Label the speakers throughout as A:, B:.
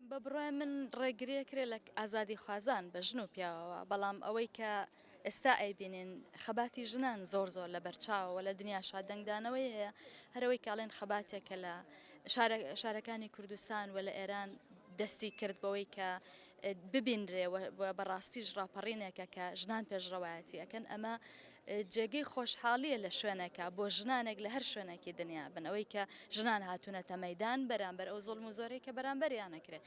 A: بە بڕوای من ڕێگریە کرێ لە ئازادی خوازان بە ژن و پیاوەوە بەڵام ئەوەی کە ئێستا ئەیبینین خەباتی ژنان زۆر زۆر لە بەرچاوەوە لە دنیا شادەنگدانەوەی هەیە هەرەوەی کاڵێن خەباتێک کە لە شارەکانی کوردستان و لە ئێران دەستی کرد بەوەی کە ببینرێ بەڕاستیش ڕاپەڕینێکە کە ژنان پێشڕەوایەتی ئەەکەن ئەمە جێگەی خۆشحاڵیە لە شوێنەکە بۆ ژنانێک لە هەر شوێنێکی دنیا بن ئەوەی کە ژنان هاتوونەتە مەدان بەرامبەر ئەو زۆڵم و زۆرەی کە بەرامبەریانەکرێت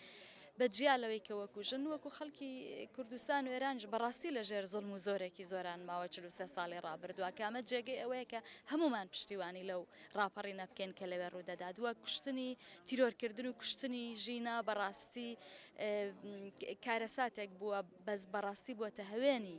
A: بە جیا لەوەی کە وەکو ژن وەکو خەڵکی کوردستان و ئێرانج بەڕاستی لە ژێر زۆڵم و زۆرێکی زۆران ماوە چ سێ ساڵی ڕابردووە کامە جێگەی ئەوەیە کە هەمومان پشتیوانی لەو ڕاپەڕی نەبکەین کە لەوێ ڕوودەدات وە کوشتنی تیرۆرکردن و کوشتنی ژینا بەڕاستی کارەساتێک بووە بەس بەڕاستی بووە تە هەوێنی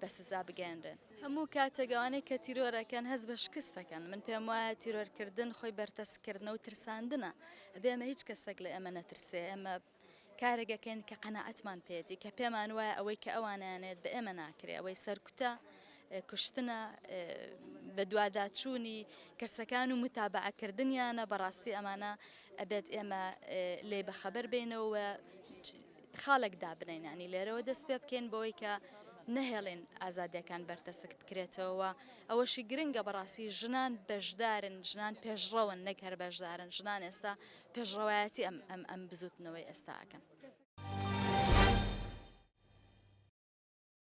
A: بە سزا بگەیەنرێن. هەموو کاتێک ئەوانەی کە تیرۆر ئەکەن هەست بە شکست دەکەن، من پێم وایە تیرۆر کردن خۆی بەرتەسک کردنە و ترساندنە، ئەبێ ئێمە هیچ کەسێک لە ئێمە نەترسێ، ئێمە کارێک ئەکەین کە قەناعەتمان پێیەتی، کە پێمان وایە ئەوەی کە ئەوانیانەوێت بە ئێمە ناکرێ، ئەوەی سەرکوتە، کوشتنە، بەدواداچوونی کەسەکان و موتابەعە کردنیانە، بەڕاستی ئەمانە ئەبێت ئێمە لێی بەخەبەر بێینەوە و خاڵێک دابنێن ینی لێرەوە دەست پێ بکەین بۆی کە نەهێڵێن ئازادیەکان بەرتەسک بکرێتەوە ئەوەشی گرنگە بەڕاستی ژنان بەشدارن ژنان پێشڕەوەن نەک هەر بەشدارن ژنان ئێستا پێشڕەوایەتی ئەم ئەم ئەم بزوتنەوەی ئێستاکەن.